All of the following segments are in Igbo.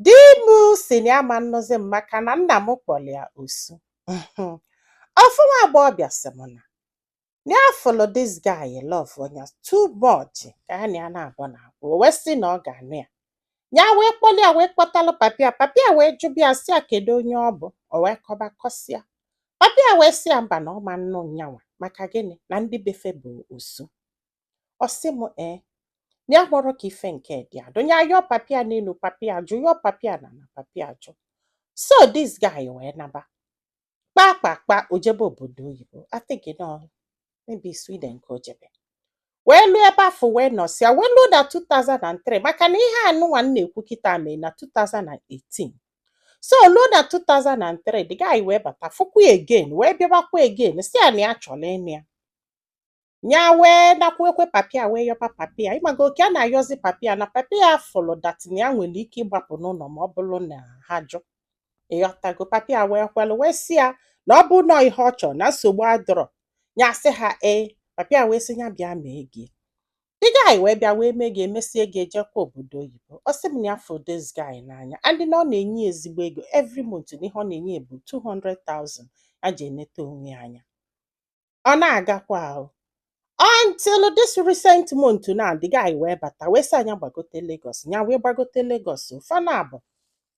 Di m si na ya ma nnụzi m maka na nna m kpọrọ ya osu. Ofu nwa agbọghọbịa sị m na na ya fụlụ this guy love nya too much ka ya na ya na-abụ na abụ o wee sị na ọ ga-anụ ya. Ya wee kpọlụ ya wee kpọtalụ papi ya papi ya wee jụba ya sị ya kedu onye ọ bụ o wee kọba kọsịa. Papi ya wee sị ya mba na ọ ma nnụ nya nwa maka gịnị na ndị be fa bụ osu. ọ sị m ee na ya kpọrọ ka ife nke dị adụ ya yọọ papi ya n'elu papi ajụ yọọ papi ya n'ana papi ajụ so this guy wee naba kpaa kpaa kpaa o jebe obodo oyibo I think na maybe Sweden ka o jebe wee luo ebe afụ wee nọsịa wee luo na 2003 maka na ihe anụnwa m na-ekwu kịta mee na 2018 so luo na 2003 the guy wee bata fụkwa again wee bịabakwa again si ya na ya chọrọ ịnụ ya ya wee nakwukwa papi ya wee yọba papi ya ị mago oke a na-ayọzi papi ya na papi ya fụlụ that na ya nwere ike ịgbapụ n'ụnọ ma ọ bụrụ na ha jụ ị ghọtago papi ya wee kwelụ wee si ya na ọ bụ na ọ ihe ọ chọrọ na nsogbu adịrọ ya sị ha ee papi ya wee sị ya bịa mee ego the guy wee bịa wee mee ego emesie ego ya jekwa obodo oyibo ọ sị m na ya fụ this guy n'anya and na ọ na-enye ezigbo ego every month na ihe ọ na-enye bụ 200,000 ya ji eneta onwe ya anya ọ na-agakwa ahụ until this recent month na the guy wee bata wee sị ya nya gbagote Lagos nya wee gbagote Lagos fa naabọ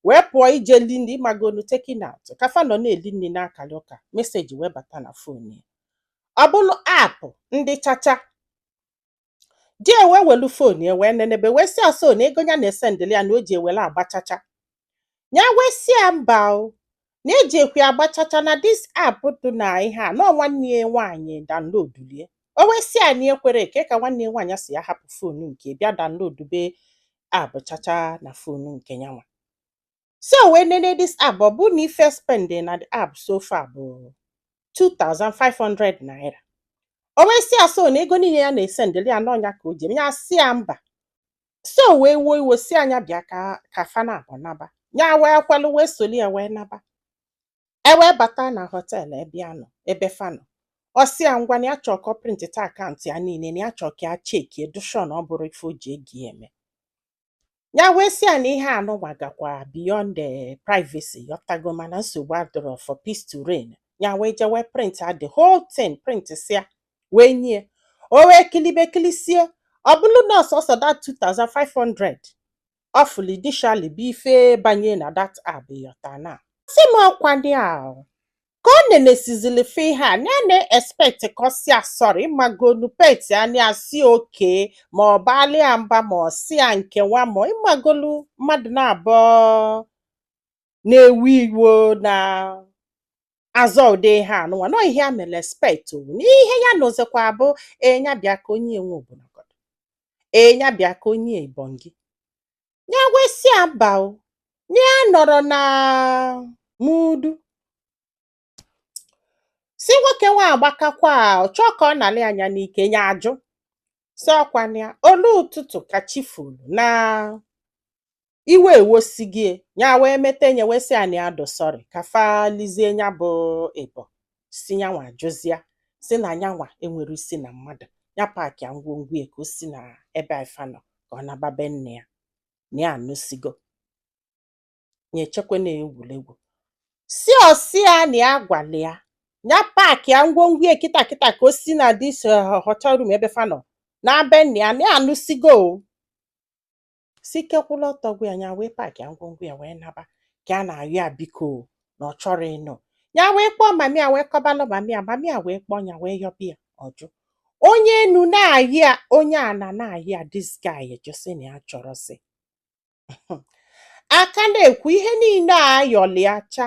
wee pụọ ije lie nni ị magonu taking out ka fa nọ na-eli nni na-akalị ụka message wee bata na phone ya ọ bụrụ app ndị chacha di ya wee welu phone ya wee nenebe wee sị ya so na ego ya na-esendịrị ya na o ji ewere agba chacha ya wee sị ya mba o na ejikwe agba chacha na this app dị na ihe a na ọ nwanne ya nwaanyị downloadulu ya o wee sị ya na ya ekwerọ kee ka nwanne ya nwaanyị si ya hapụ phone nke ya bịa downloadube app chacha na phone nke ya nwa so o wee nene this app ọ bụ na ife spend na the app so far bụ 2500 naira o wee si ya so na ego niile ya na-esendịrị ya na ọ nya ka o ji eme ya si ya mba so o wee wuo iwe si ya nya bịa ka fa naabọ naba ya wee kwelụ wee solu ya wee naba e wee bata na hotel ebe ya nọ ebe fa nọ ọ sị ya ngwa na ya chọọ ka ọ printita account ya niile na ya chọọ ka ya chekie dị sure na ọ bụrọ ife o ji ego ya eme Ya wee sị ya na ihe anụnwa gakwa beyond the eh, privacy ị ghọtago mana nsogbu adịrọ for peace to reign. Ya wee jewe printia the whole thing printisịa wee nye ya o wee kilibe kilisie ọ bụrụ na ọ sọsọ that 2500 ọ fụlụ initially bụ ife banye na that app ị ghọta na sị m ọkwa ndị a ka ọ nenesizili fe ihe a na ya na-expect ka ọ si ya sorry ịmagolu pet ya na ya sị okay ma ọ baali ya mba ma ọ si ya nke nwa ma ịmagolu mmadụ naabọ na-ewe iwe na-azọ ụdị ihe anụnwa nọ ihe a mere expect o na ihe ya nụzikwa bụ enya bịa ka onye enwe obodo ee ya bịa ka onye Ebonyi ya wee sị ya mba o na ya nọrọ na mood si nwoke nwa agbakakwa ọ chọọ ka ọ nalị ya nya n'ike ya ajụ si ọkwana ya o lue ụtụtụ ka chi folu na iwe ewosigo ya wee mete nya wee sị ya na ya dị sorry ka fa lizie ya bụ ịbọ si nyanwa jụzịa si na nyanwa enwere isi na mmadụ ya packịa ngwongwo ya ka o si na ebe ifa nọ ka ọ naba be nne ya na ya anụsigo ya echekwa na egwuregwu si ọ sị ya na ya gwala ya ya packịa ngwongwo ya kịta kịta ka o si na this hotel room ebe fa nọ naa be nne ya na ya anụsigo o si ike kwụlụ ọtọ gwụ ya nya wee packịa ngwongwo ya wee naba ka a na-ayọ ya biko o, na ọ chọrọ ịnụ ya wee kpọọ mami ya wee kọbalụ mami ya mami ya wee kpọọ ya wee yọba ya ọ jụ onye enu na-ayọ ya onye ana na-ayọ ya this guy ajụ sị na ya achọrọsi a ka na-ekwu ihe niile a ayọlịacha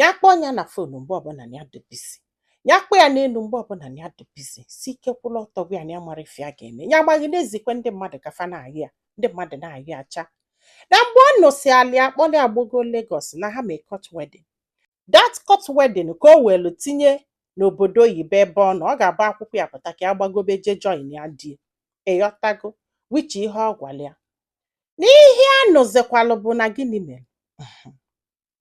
ya kpọọ nya na phone mgbe ọbụla na ya dị busy ya kpọọ ya n'elu mgbe ọbụla na ya dị busy si ike kwụlụ ọtọ gwụ ya na ya amara ife ya ga-eme ya amaghị na-ezikwe ndị mmadụ ka fa na-ayọ ya ndị mmadụ na-ayọ ya cha na mgbe ọ nụsịala ya kpọrọ ya gbago Lagos na ha mee court wedding that court wedding ka o welu tinye n'obodo oyibo ebe ọ nọ ọ ga-agba akwụkwọ ya pụta ka ya gbagobe je join ya there ịghọtago which ihe ọ gwara ya n'ihe a nụzikwalụ bụ na gịnị mere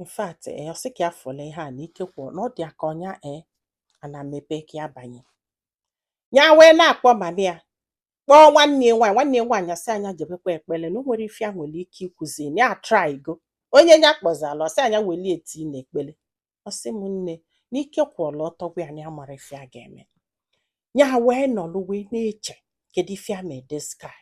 in fact ee eh, ọ sị ka ya fụlụ ihe a na ike kwụ na ọ dị ya ka ọ nya ee eh, ana mepee ka ya banye ya wee na-akpọ mami ya kpọọ nwanne ya nwaanyị nwanne ya nwaanyị asị ya nya jebekwa ekpele na o nwere ife ya nwere ike ikwuzi na ya trygo onye ya kpọzala ọ sị ya nya welie tie na ekpele ọ sị m nne na ike kwụlụ ọtọ gwụ ya na ya amara ife ya ga-eme ya wee nọlụ wee na-eche kedu ife ya mee this guy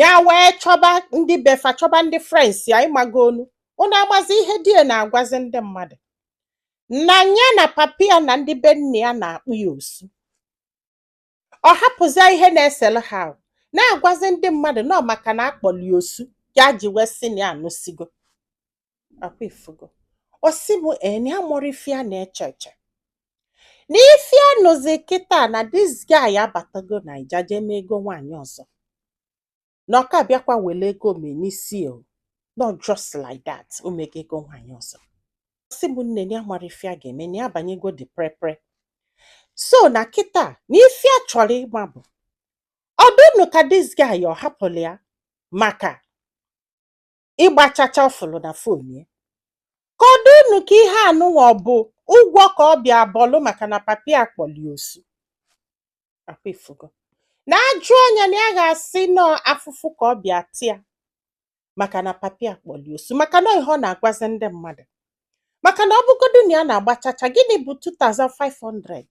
ya wee chọba ndị be fa chọba ndị friends ya ịmagonu unu amazi ihe di ya na-agwazi ndị mmadụ na ya na papi ya na ndị be nne ya na-akpọ ya osu ọ hapụzia ihe na-esere ha ahụ na-agwazi ndị mmadụ na ọ maka na a kpọlị ya osu ya ji wee sị na ya anụsigo akwa ị fụgo ọ sị m ee na ya amarọ ife ya na-eche eche na ife ya nụzi kịta na dis guy abatago naija jee mee ego nwaanyị ọzọ na ọ ka bịakwa were ego mee n'isi o not just like that o mego ego nwaanyị ọzọ Ọ sị m nne na ya amarọ ife ya ga-eme na ya banyego dị prepre so na kịta na ife ya chọrọ ịma bụ ọ dị unu ka dis guy ọ hapụrụ ya maka ịgba chacha ọ fụlụ na fon ya ka ọ dị unu ka ihe anụnwa ọ bụ ụgwọ ka ọ bịa bọlụ maka na papa ya kpọlụ ya osu akwa ị fụgo na ajụ anya na ya ga-asị nọọ afụfụ ka ọ bịa ta ya maka na papa ya kpọlụ ya osu maka na ihe ọ na-agwazi ndị mmadụ maka na ọ bụgodu na ya na-agba chacha gịnị bụ 2500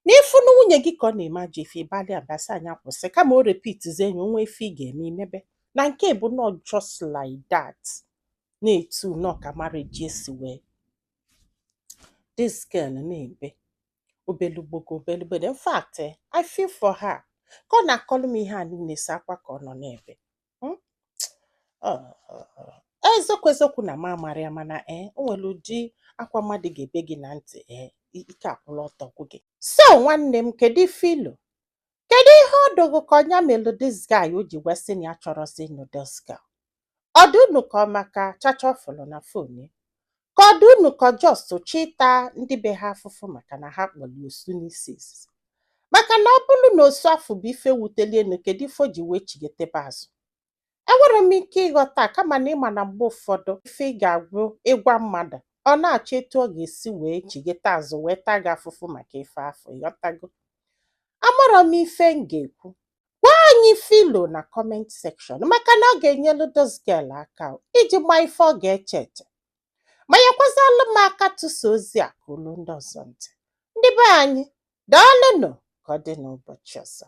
na ị fụ na nwunye gị ka ọ na-eme ajọ ife ị baalụ ya mba sị ya nya kwụsị kama o repitizie enyi o nwee ife ị ga-eme i mebe na nke bụ not just like that na etu nọọ ka marriage si wee this girl na-ebe obele agbọghọ obele agbọghọ in fact eh, I feel for her ka ọ na-akọlụ m ihe a niile sọ akwa ka ọ nọ na-ebe hmm? ah, eziokwu eziokwu na m amarọ ya mana ee eh, o nwere ụdị akwa mmadụ ga-ebe gị na ntị ee eh, ike akwụlụ ọtọ gwụ gị so nwanne m kedu ife i lo kedu ihe ọ dị gị ka ọ nya melụ dis guy o ji wee sị na ya achọrọzi ịnụ dis girl ọ dị unu ka ọ maka chacha ọ fụlụ na fon ya ka ọ dị unu ka ọ just chọ ịta ndị be ha afụfụ maka na ha kpọlụ ya osu n'isi izizi maka na ọ bụrụ na osu afụ bụ ife wutelụ ya nụ kedu ife o ji wee chigetebe azụ enwerọ m ike ịghọta kama na ị ma na mgbe ụfọdụ ife ị ga-agwụ ịgwa mmadụ ọ na-achọ etu ọ ga-esi wee chigete azụ wee taa gị afụfụ maka ife afụ ị ghọtago amarọ m ife m ga-ekwu gwa anyị ife i lo na kọment sekshọn maka na ọ ga-enyelu dis girl aka iji ma ife ọ ga-eche eche ma nyekwazalụ m aka tụsa ozi a ka o lu ndị ọzọ ntị ndị be anyị daalụnụ ka ọ dị n'ụbọchị ọzọ